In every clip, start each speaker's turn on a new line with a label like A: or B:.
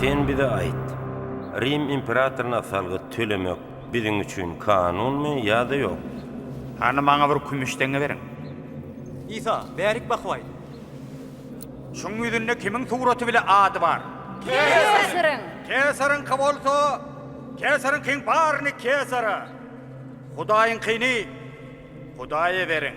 A: Sen bize aýt, Rim imperatoryna salgyt tölemek biziň üçin kanunmy ýa-da ýok? Hany maňa bir kümüş teňňe beriň. Isa, bärik bakyp aýt, Şuň ýüzünde kimiň suraty bile ady bar? Kesaryň. Kesaryňky bolsa, kesaryňkyň baryny kesara, Hudaýyňkyny Hudaýa beriň.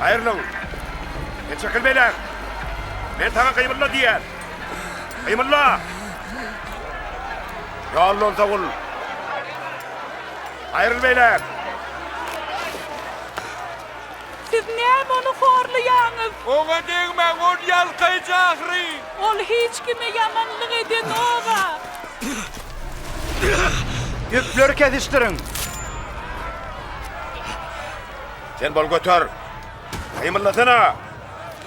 A: Aýrylyň! Çekil beýläk! Men saňa gyýbylma diýýän! Gymylla! Ýallan sagul! Aýryl beýläk! Siz näme ony horlaýaňyz? Oňa degmäň, ol ýalkaýjy ahyry! Ol hiç kime ýamanlyk edenok-a! Ýüpleri kesişdiriň! Sen bol göter! Gymyllasana!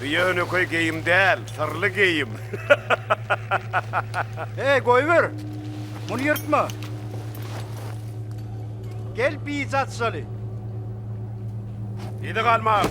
A: Bu ýönekeý geýim däl, syrly geýim. Hey, goýber! Muny ýyrtma! Gel, bijat şaly! Ýedi galmag!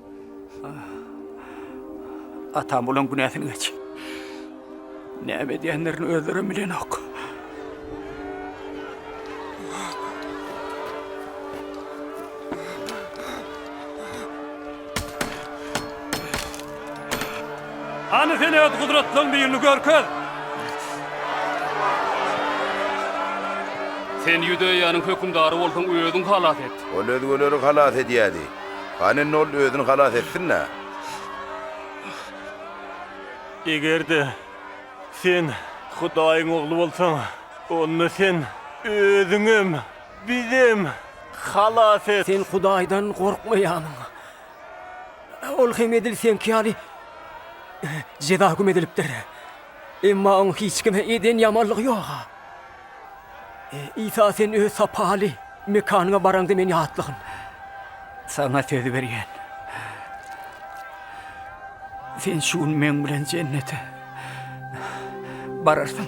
A: Atam bolan günäsini geç. Näme edýänlerini özlerem bilenok. Hany sen öz gudratlaň birini görkez. Sen Ýudeýanyň hökümdary bolsaň özüň halas et. Ol özgeleri halas edýärdi. Hany indi ol özüni halas etsin-dä! Eger-de Sen Hudaýyň Ogly bolsaň, onda Sen Özüňem, bizem halas et! Sen Hudaýdan gorkmaýarmyň? Ol hem edil Seňki ýaly jeza hüküm edilipdir. Emma oň hiç kime eden ýamanlygy ýog-a. Isa, sen öz sapaly mekanyňa baraňda meni ýatlagyn. Saňa söz berýän. Sen şu gün meň bilen jennete bararsyň.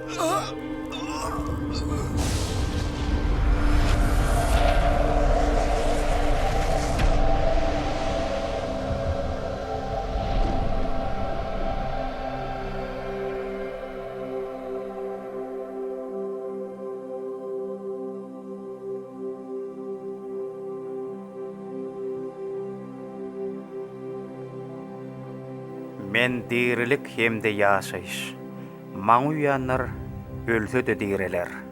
A: Men dirilik hem-de ýaşaýyş. Maňa uýanlar ölse-de direler.